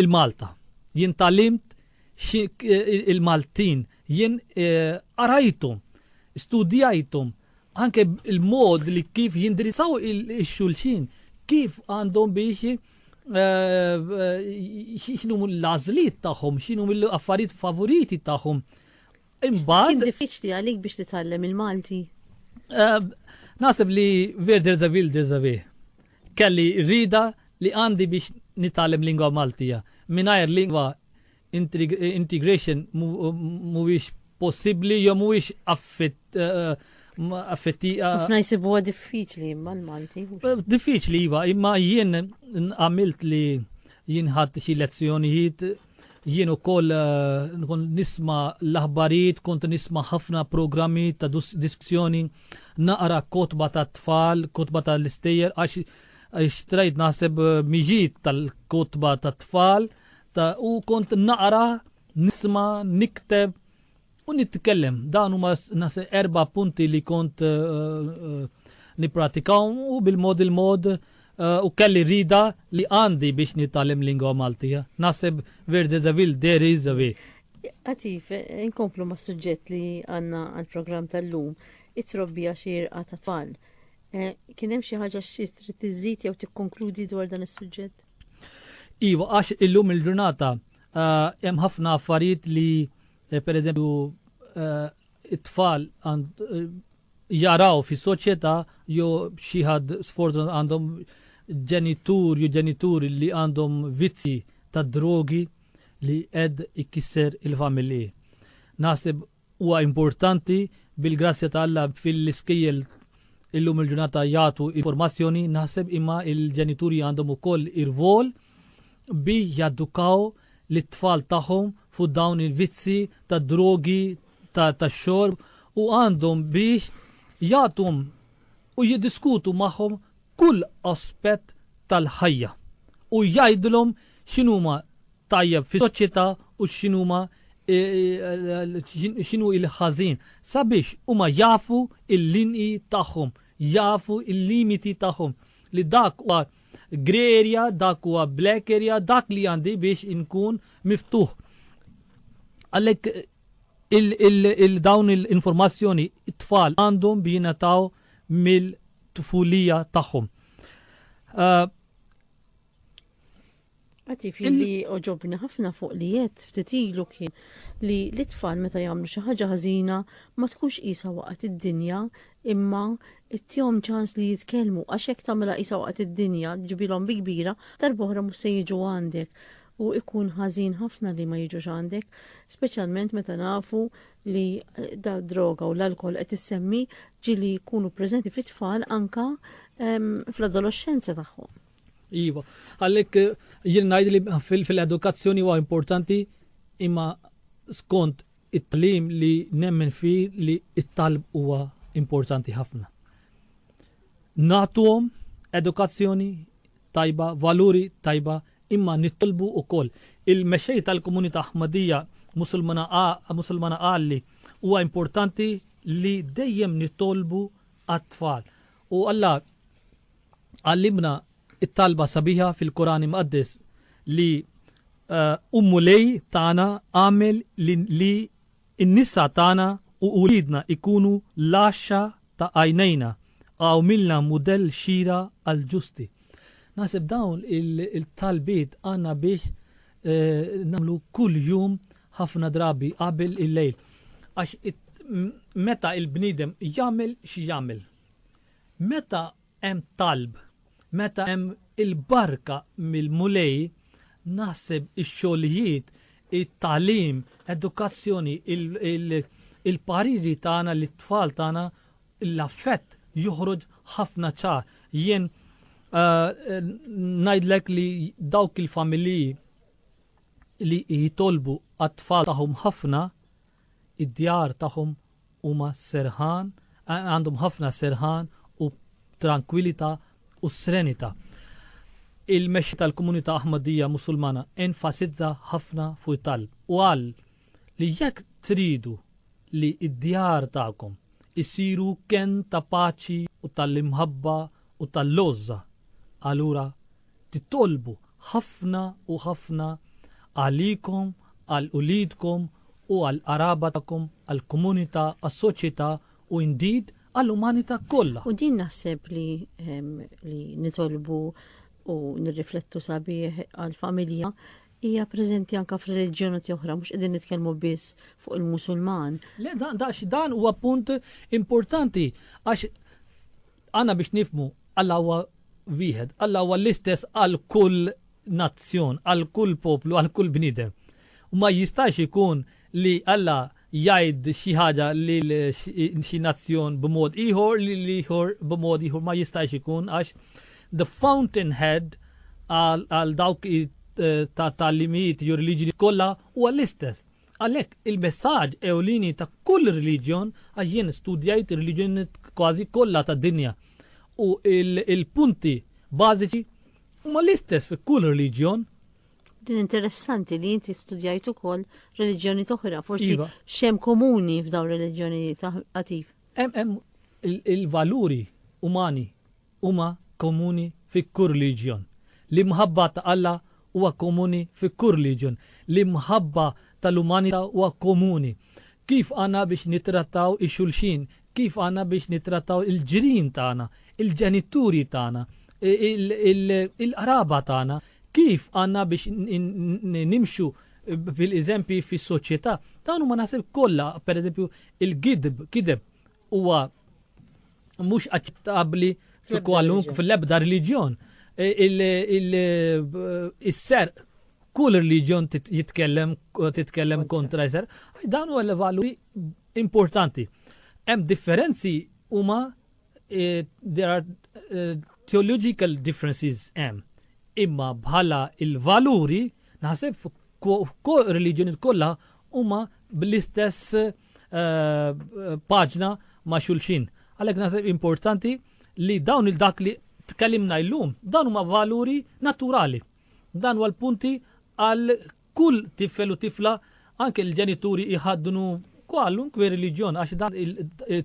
il-Malta. Jien tgħallimt il-Maltin, jien eh, qarajthom, studjajthom, anke il-mod li kif jindirizzaw il-xulxin, kif għandhom biex eh, eh, xinu l-azliet tagħhom, xinu l-affarijiet favoriti tagħhom. Imbagħad. Kien diffiċli għalik biex titgħallem il-Malti. Nasib li Verder Zavil Derzavi. Kelli r-rieda li għandi biex nitgħallem lingwa Maltija. Mingħajr lingwa integration mhuwiex possibbli jew mhuwiex affetti. Ħafna jsibuha diffiċli imma l-Malti. Diffiċli iva, imma jien għamilt li jien ħadd xi lezzjonijiet Jien ukoll nkun nisma l-aħbarijiet, kont nisma ħafna programmi ta' diskussjoni, naqra kotba ta' tfal, kotba ta' l-istejjer, għax xtrajt naħseb eh, miġiet tal-kotba ta' tfal, ta' u kont naqra, nisma, nikteb, U nitkellem, dawn huma nasa erba' punti li kont nippratikahom u bil-mod il-mod u kelli rida li għandi biex nitgħallem lingwa Malti. Naħseb where there's a will there is a way. Għatif, inkomplu ma' suġġett li għanna għal-programm tal-lum, it-trobbija xirqa ta' tfal. Eh, kien hemm xi ħaġa xi trid tiżid jew tikkonkludi dwar dan is-suġġett? Iva, għax illum il-ġurnata eh, hemm ħafna affarijiet li Eh, per eżempju, eh, it-tfal eh, jaraw fi soċjetà jew xi ħadd sfortun għandhom ġenitur jew ġenituri li għandhom vizzi ta' drogi li qed ikkisser il-familji. Naħseb huwa importanti bil-grazzja ta' Alla fil-iskejjel illum il-ġurnata jagħtu informazzjoni naħseb imma il-ġenituri għandhom ukoll ir-rwol il bi jadukaw lit-tfal tagħhom fuq dawn il-vizzji tad-drogi tax-xorb u għandhom biex jagħtuhom u jiddiskutu magħhom kull aspett tal-ħajja u jgħidulhom x'inhuma tajjeb fis-soċjetà u x'inhuma x'inhu il-ħażin sabiex huma jafu l-linji tagħhom, jafu l-limiti tagħhom li dak huwa Grey area, dak huwa black area, dak li għandi biex inkun miftuħ. Għalhekk il-dawn il-informazzjoni it-tfal għandhom bi jingħataw mill-tfulija tagħhom. Uh, Għatif li oġobni ħafna fuq li jett ftit ilu kien li l-itfall meta jagħmlu xi ħaġa ħażina ma tkunx qisha waqgħet id-dinja imma ittihom ċans li jitkellmu għax hekk tagħmilha qisha waqgħet id-dinja ġibilhom bi kbira darb'oħra mhux se jiġu għandek u ikun ħażin ħafna li ma jiġux għandek, speċjalment meta nafu li eh, da droga u l-alkohol qed issemmi ġili jkunu preżenti fit-tfal anka ehm, fl-adolescenza tagħhom. Iva, għalhekk eh, jien ngħid li fil-edukazzjoni huwa importanti imma skont it-tlim li nemmen fi li it-talb huwa importanti ħafna. Natuhom edukazzjoni tajba, valuri tajba, imma nittolbu ukoll. Il-mexej tal-komunità Ahmadija musulmana għalli huwa importanti li dejjem nitolbu għat-tfal. U Alla għallimna t-talba sabiħa fil-Quran Imqaddes li U Mulej tagħna agħmel li n-nisa tagħna u uliedna jkunu l-għaxxa ta' għajnejna u agħmilna mudell xieraq għall-ġusti. Naħseb dawn il-talbiet għandna biex nagħmlu kull jum ħafna drabi qabel il-lejl. Għax meta il-bniedem jagħmel xi jagħmel. Meta hemm talb, meta hemm il-barka mill-Mulej, naħseb ix-xogħlijiet, it-tagħlim, edukazzjoni, il-pariri tagħna lit-tfal tagħna, l-affett joħroġ ħafna ċar. Jien ngħidlek li dawk il-familji li jitolbu għat-tfal tagħhom ħafna, Id-djar tagħhom huma serħan, għandhom ħafna serħan u trankwilità u srenità. Il-mexxi tal-komunità Ahmadija Musulmana enfasizza ħafna fuq it-talb u qal li jekk tridu li d-djar tagħkom isiru kenn ta' paċi u tal-imħabba u tal-lgħożża, allura titolbu ħafna u ħafna għalikom, għal uliedkom u għal qraba tagħkom, għall-komunità, għas-soċjetà u indeed għall-umanità kollha. U din naħseb li li nitolbu u nirriflettu sabiħ għall-familja hija preżenti anka f'reliġjoni oħra, mhux qegħdin nitkellmu biss fuq il-Musulman. Le dan dan huwa punt importanti għax Għandna biex nifhmu Alla huwa wieħed, Alla huwa l-istess għal kull nazzjon, għal kull poplu, għal kull bniedem. U ma jistax ikun li Alla jgħid xi ħaġa lil xi nazzjon b'mod ieħor li l-ieħor b'mod ieħor ma jistax ikun għax the fountainhead għal dawk eh, ta' talimijiet jew reliġjoni kollha huwa l-istess. Għalhekk, il-messaġġ ewlieni ta' kull reliġjon, għax jien studjajt ir-reliġjonijiet kważi kollha tad-dinja, u l-punti bażiċi huma l-istess fi kull reliġjon, Din interessanti li inti studjajt ukoll reliġjoni toħra, forsi Iva. xem komuni f'daw reliġjoni taħatif. Hemm hemm il-valuri umani huma komuni fi kull reliġjon. L-imħabba ta' Alla huwa komuni fi kull reliġjon. L-imħabba tal-umanità huwa komuni. Kif għandna biex nittrattaw ix-xulxin? Kif għandna biex nittrattaw il-ġirien tagħna, il-ġenituri tagħna, il-qraba tagħna? Kif għandna biex nimxu bil-eżempji fis-soċjetà? Dawn huma naħseb kollha, pereżempju, il-gidb, kideb, huwa mhux aċċettabbli fi kwalunk fil-ebda reliġjon. E, Is-ser e, kull reliġjon jitkellem titkellem kontra jser, dan huwa l-valuri importanti. Hemm differenzi huma e, there are theological differences hemm. Imma bħala il-valuri naħseb fuq reliġjoni kollha huma bl-istess eh, paġna ma' xulxin. Għalhekk naħseb importanti li dawn il-dak li tkellimna illum, dawn huma valuri naturali. Dan huwa l-punti għal kull tifel u tifla anke l-ġenituri iħaddnu kwallun kwe reliġjon għax dan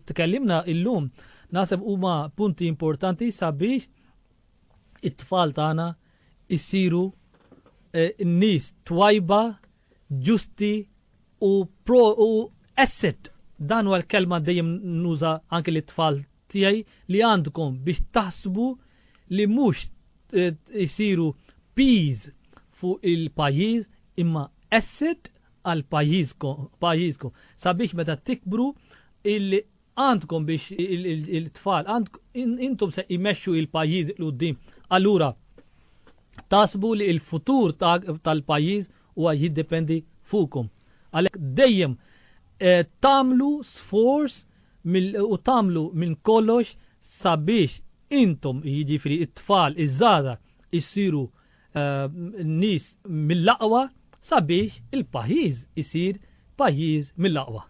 tkellimna illum naħseb huma punti importanti sabiex it-tfal tagħna issiru eh, n-nies twajba ġusti u pro u asset dan huwa l-kelma dejjem nuża anke li tfal tiegħi li għandkom biex taħsbu li mhux jsiru eh, piż fuq il-pajjiż imma asset għal pajjiżkom sabiex meta tikbru Għandkom biex il-tfal, intom se imexxu il-pajjiż il-qudiem. Allura, tasbu li il-futur tal-pajjiż huwa jiddependi fuqkom. Għalhekk dejjem eh, tagħmlu sforz u tagħmlu minn kollox sabiex intom jiġifieri it-tfal iż-żgħażagħ issiru nies mill-aqwa sabiex il-pajjiż isir pajjiż mill-aqwa.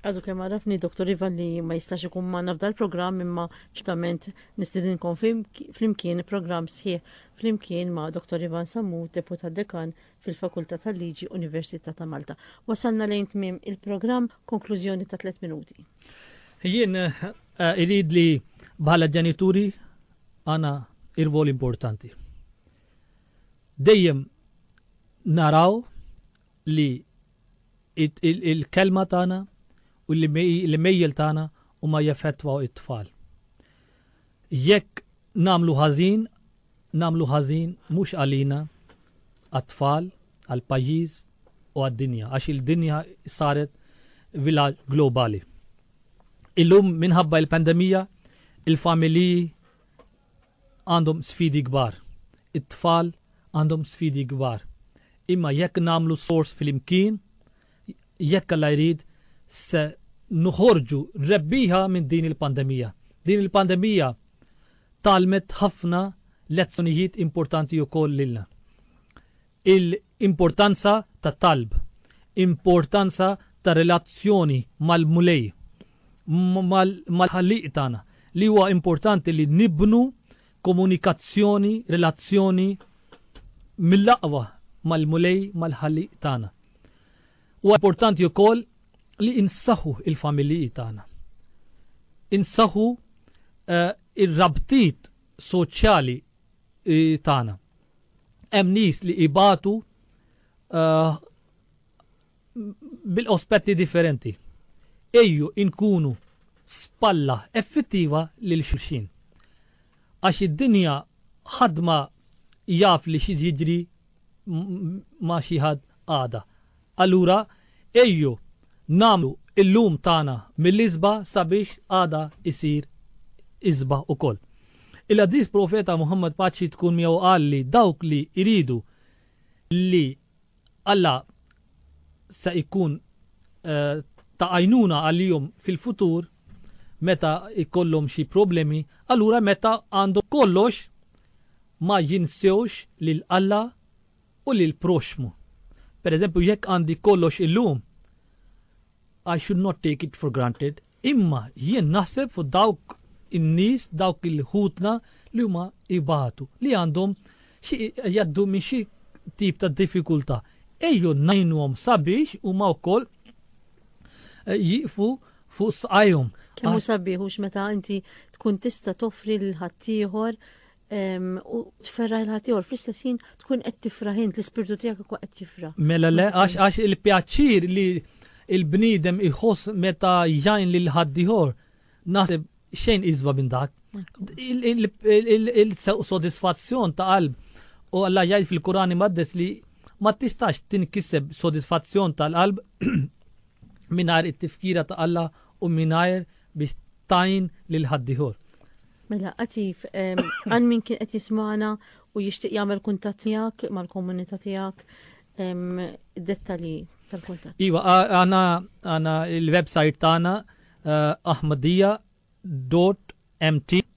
Għadu kemm għarafni Dr. Iva li ma jistax ikun manna f'dal programm imma ċitament nistidinkom flimkien programm sħiħ flimkien ma' Dr. Ivan Sammu, deputat dekan fil-Fakultà tal-Liġi Università ta' Malta. Wasalna lejn tmiem il-programm konklużjoni ta' 3 minuti. Jien eh, irid li bħala ġenituri għandna rwol importanti. Dejjem naraw li l-kelma tagħna u l-imejjel tagħna huma jeffettwaw it-tfal. Jekk nagħmlu ħażin, nagħmlu ħażin mhux għalina għat-tfal, għall-pajjiż u għad-dinja, għax il-dinja saret vilaġġ globali. Illum minħabba il-pandemija, il-familiji għandhom sfidi kbar. It-tfal għandhom sfidi kbar. Imma jekk nagħmlu sors flimkien, jekk Alla jrid se nħorġu rebbieħa minn din il-pandemija. Din il-pandemija talmet ħafna lezzjonijiet importanti wkoll lilna. Il-importanza tat-talb, importanza tar-relazzjoni mal-Mulej, mal-Ħallieq tagħna, li huwa importanti li nibnu komunikazzjoni, relazzjoni mill-aqwa mal-Mulej, mal-Ħallieq tagħna. Huwa importanti wkoll li insaħħu l-familji tagħna. Insaħħu eh, ir-rabtiet soċjali tagħna. Hemm nies li ibatu uh, bil-ospetti differenti. Ejju inkunu spalla effettiva lil xulxin. Għax id-dinja ħadma jaf li xi jiġri ma xi ħadd għada. Allura, ejju nagħmlu l-lum tagħna mill-isba' sabiex għada jsir isba' ukoll. Il-Qaddis Profeta Muħammad paċi tkun miegħu qal li dawk li jridu li Alla se jkun ta' għajnuna għalihom fil-futur meta jkollhom xi problemi, allura meta għandhom kollox ma jinsewx lil Alla u lill-proxxmu. Pereżempju, jekk għandi kollox illum, I should not take it for granted, imma jien naħseb fuq dawk in-nies, dawk il-ħutna li huma jbatu, li għandhom xi jgħaddu minn xi tip ta' diffikultà. Ejjew ngħinuhom sabiex huma wkoll eh, jieqfu fuq sqajhom. Kemm hu sabiħux meta inti tkun tista' toffri lil ħaddieħor u tferra l-ħatiħor fl-istess ħin tkun qed tifra ħin l-ispirtu tiegħek ikwa qed jifra. Mela le għax għax il-pjaċir li il-bniedem iħoss meta jgħin lil ħaddiħor naħseb xejn iżba minn dak. Il-sodisfazzjon ta' qalb u Alla jgħid fil-Kurani maddes li ma tistax tinkiseb sodisfazzjon tal-qalb mingħajr it-tifkira ta' Alla u mingħajr biex tgħin lil ħaddieħor. Mela, għatif, għal min kien qed jismana u jixtieq jagħmel kuntatt tiegħek mal-komunità tiegħek dettalji tal-kuntatt. Iva, għana għana il-website tagħna eh, ahmadija.mt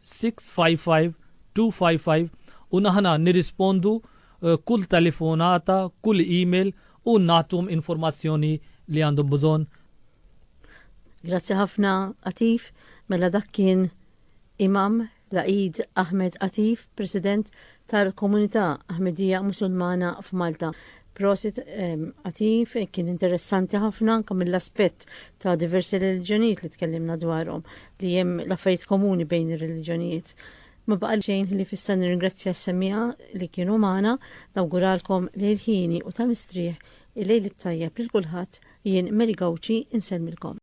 655 255 u aħna nirrispondu kull telefonata, kull email u nagħtuhom informazzjoni li għandhom bżonn. Grazzi ħafna Atif, mela dak kien Imam Laqid Ahmed Atif, President tal-komunità Ahmedija Musulmana f'Malta. Prosit Atif, kien interessanti ħafna anke mill-aspett ta' diversi reliġjonijiet li tkellimna dwarhom li hemm l-affarijiet komuni bejn ir-reliġjonijiet. Ma baqa' xejn li fissa nirringrazzja s-semmiegħa li kienu magħna, nawguralkom lejl ħini u ta' mistrieħ, il-lejl it-tajjeb lil kulħadd, jien Mary Gauci insellmilkom.